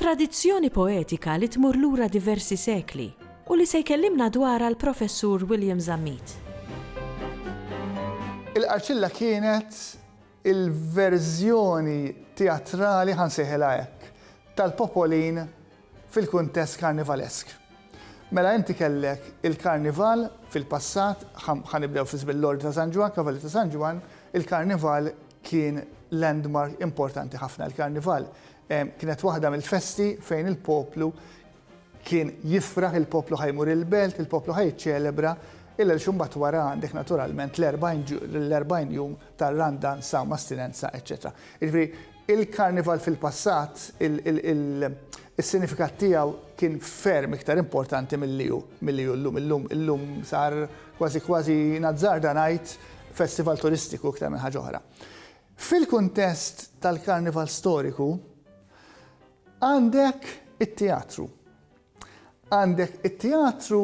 Tradizzjoni poetika li tmur lura diversi sekli u li se jkellimna dwarha l-Professur William Zammit. Il-Qarċilla kienet il-verżjoni teatrali, ħa nsejħilha hekk, tal-Popolin fil-kuntest karnivalesk. Mela inti kellek il-Karnival fil-passat, ħa nibdew fi żmien l-Ordni ta' San Ġwann, Kavallieri ta' San Ġwann, il-Karnival kien landmark importanti ħafna. Il-Karnival Kienet waħda mill-festi fejn il-poplu kien jifraħ, il-poplu ħa jmur il-belt, il-poplu ħa jiċċelebra il-Għelx u mbagħad wara għandek naturalment l-40 jum tar-Randan, Sawm, Astinenza, eċċetera. Jiġifieri il-Karnival fil-passat is-sinifikat tiegħu kien ferm iktar importanti milli hu milli hu llum. Illum illum sar kważi kważi nazzarda ngħid festival turistiku iktar minn ħaġa oħra. Fil-kuntest tal-Karnival Storiku, għandek it-teatru. Għandek it-teatru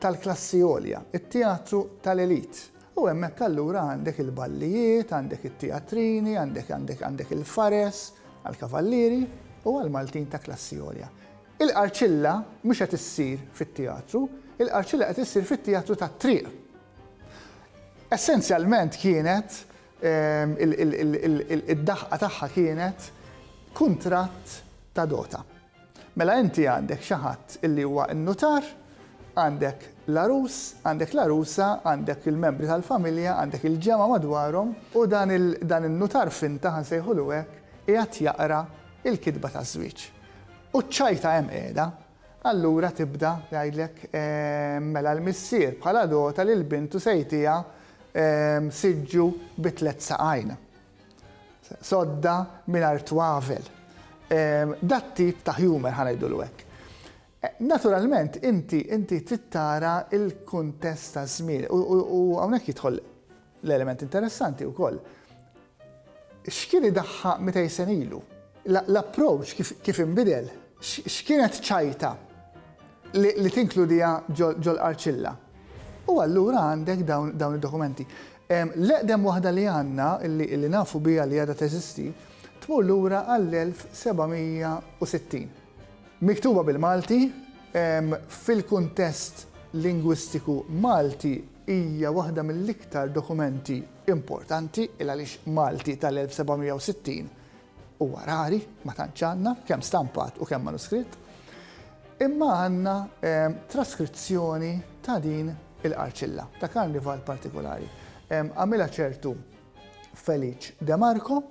tal-klassi għolja, it-teatru tal-elite. U hemmhekk allura għandek il-ballijiet, għandek it-teatrini, għandek, għandek, għandek il-fares għall-kavallieri u għall-Maltin ta' klassi għolja. Il-qarċilla mhux qed issir fit-teatru, il-qarċilla qed issir fit-teatru tat-triq. Essenzjalment kienet id-daħqa tagħha kienet kuntratt ta' dota. Mela inti għandek xi ħadd illi huwa n-nutar, għandek l-għarus, għandek l-għarusa, għandek il-membri tal-familja, għandek il-ġemgħa madwarhom u dan in-nutar finta, ħa nsejħulu hekk, qiegħed jaqra l-kitba taż-żwieġ. U ċ-ċajta hemm qiegħda, Allura tibda tgħidlek, Mela l-missier bħala l-għota lil bintu se jtiha siġġu bi tliet saqajn, sodda mingħajr twavel. Dat-tip ta' humour, ħa ngħidulu hekk. Naturalment inti trid tara l-kuntest taż-żmien u hawnhekk jidħol L-element interessanti wkoll, x'kien idaħħa 200 sena ilu? L-approach kif inbidel? X'kienet ċajta li tinkludiha ġol-qarċilla? U allura għandek dawn id-dokumenti. L-eqdem waħda li għandna, li nafu biha li għadha teżisti, tmur lura għall-1760. Miktuba bil-Malti, fil-kuntest lingwistiku Malti hija waħda mill-iktar dokumenti importanti, il għaliex Malti tal-1760 huwa rari, ma tantx għandna, kemm stampat u kemm manuskritt. Imma għandna traskrizzjoni ta' din il-qarċilla, ta' karnival partikolari. Għamilha ċertu Felice De Marco,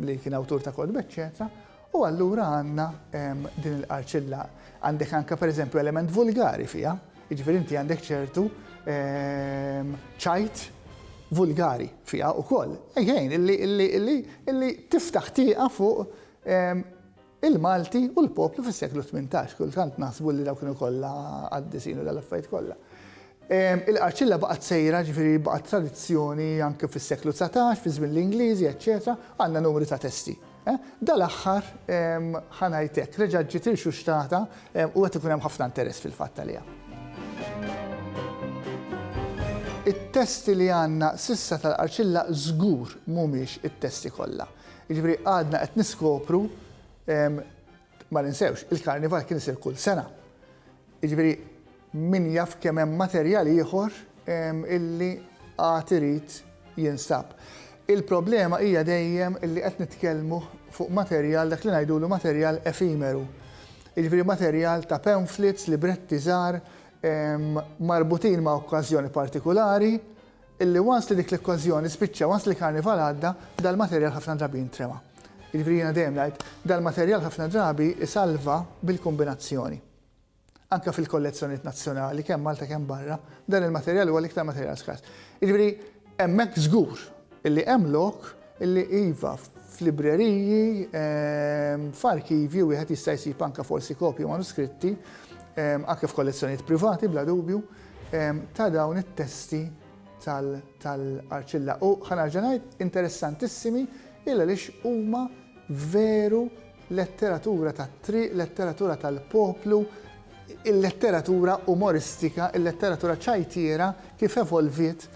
li kien awtur ta' kotb, eċċetera, u allura għandna din il-qarċilla. Għandek anke pereżempju element vulgari fiha, jiġifieri inti għandek ċertu ċajt vulgari fiha wkoll. Ejjejn, illi tiftaħ tieqa fuq il-Malti u l-poplu fis-seklu tmintax. Kultant naħsbu li dawk kienu kollha qaddisin u dal-affarijiet kollha. Il-qarċilla baqgħet sejra, ġifieri baqgħet tradizzjoni anke fis-seklu dsatax, fi żmien l-Ingliżi, eċċetera, għandna numri ta' testi. Dal-aħħar ħa ngħid hekk, reġgħet ġiet irxuxtata u qed ikun hemm ħafna interess fil-fatt għaliha. It-testi li għandna s'issa tal-qarċilla żgur mhumiex it-testi kollha. Jiġifieri għadna qed niskopru ma ninsewx, il-karnival kien isir kull sena. Jiġifieri min jaf kemm hemm materjal ieħor illi għad irid jinstab. Il-problema hija dejjem illi qed nitkellmu fuq materjal dak li ngħidulu materjal efimeru. Jiġifieri materjal ta' pamphlets, libretti żgħar marbutin ma' okkażjoni partikulari, illi once li dik l-okkażjoni spiċċa, once li l-Karnival għadda, dal-materjal ħafna drabi jintrema. Jiġifieri jiena dejjem ngħid, dal-materjal ħafna drabi isalva bil-kombinazzjoni. Anke fil-kollezzjonijiet nazzjonali, kemm Malta kemm barra, dan il-materjal huwa l-iktar materjal skars. Jiġifieri hemmhekk żgur illi hemm lok Illi iva, f'libreriji, f'arkivji wieħed jista' jsib anke forsi kopji manuskritti, anke f'kollezzjonijiet privati bla dubju, ta' dawn it-testi tal-arċilla. U ħa nerġa' ngħid, interessantissimi illa għaliex huma veru letteratura tat-triq, letteratura tal-poplu, il-letteratura umoristika, il-letteratura ċajtiera kif evolviet